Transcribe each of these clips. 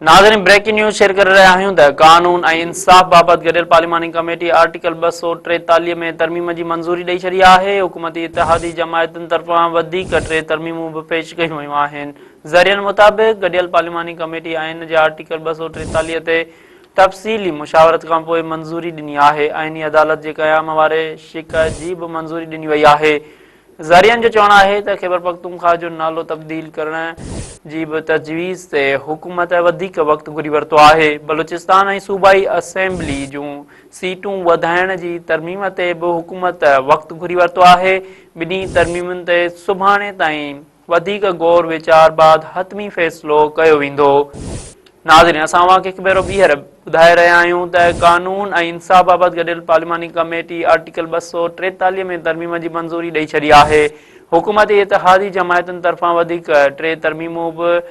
ناظرين breaking news share ڪري رهيا آهيون ته قانون ۽ انصاف بابت گڏيل پارليماني ڪميٽي آرٽيڪل ٻه سؤ ٽيتاليهه ۾ ترميم جي منظوري ڏئي ڇڏي آهي حڪومتي اتحادي جماعتن طرفان وڌيڪ ٽي ترميمون به پيش ڪيون ويون آهن ذريعن مطابق گڏيل پارليماني ڪميٽي آئين جي آرٽيڪل ٻه سؤ ٽيتاليهه تي تفصيلي مشاورت کان پوء منظوري ڏني آهي آئيني عدالت جي قيام واري شڪايت جي به منظوري ڏني وئي آهي ذريعن جو چوڻ آهي ته خيبرپختونخوا جو نالو تبديل ڪرڻ جي به تجويز تي حڪومت وڌيڪ وقت گهري ورتو آهي، بلوچستان ۽ صوبائي اسيمبلي جون سيٽون وڌائڻ جي ترميم تي به حڪومت وقت گهري ورتو آهي، ٻنهي ترميمن تي سڀاڻي تائين وڌيڪ غور ويچار بعد حتمي فيصلو ڪيو ويندو. ناظرين اسان اوهان کي هڪ ڀيرو ٻيهر ٻڌائي رهيا آهيون ته قانون ۽ انصاف بابت گڏيل پارلياماني ڪميٽي آرٽيڪل ٻه سؤ ٽيتاليهه ۾ ترميم جي منظوري ڏئي ڇڏي آهي حڪومتي اتحادي جماعتن طرفان وڌيڪ ٽي ترميمون به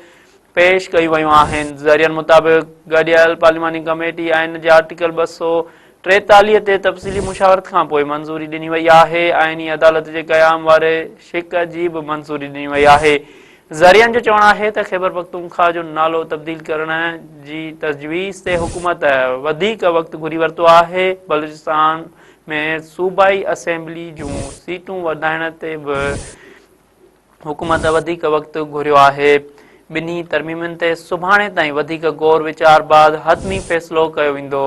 پيش ڪيون ويون آهن ذريعن مطابق گڏيل پارلياماني ڪميٽي آئين جي آرٽيڪل ٻه سؤ ٽيتاليهه تي تفصيلي مشاورت کان پوء منظوري ڏني وئي آهي، آئيني عدالت جي قيام واري شق جي به منظوري ڏني وئي آهي. ذريعن جو چوڻ آهي ته خيبرپختونخوا جو نالو تبديل ڪرڻ جي تجويز تي حڪومت وڌيڪ وقت گهري ورتو آهي، بلوچستان ۾ صوبائي اسيمبلي جون سيٽون وڌائڻ تي به حڪومت وڌيڪ وقت گهريو آهي، ٻنهي ترميمن تي سڀاڻي تائين وڌيڪ غور ويچار بعد حتمي فيصلو ڪيو ويندو.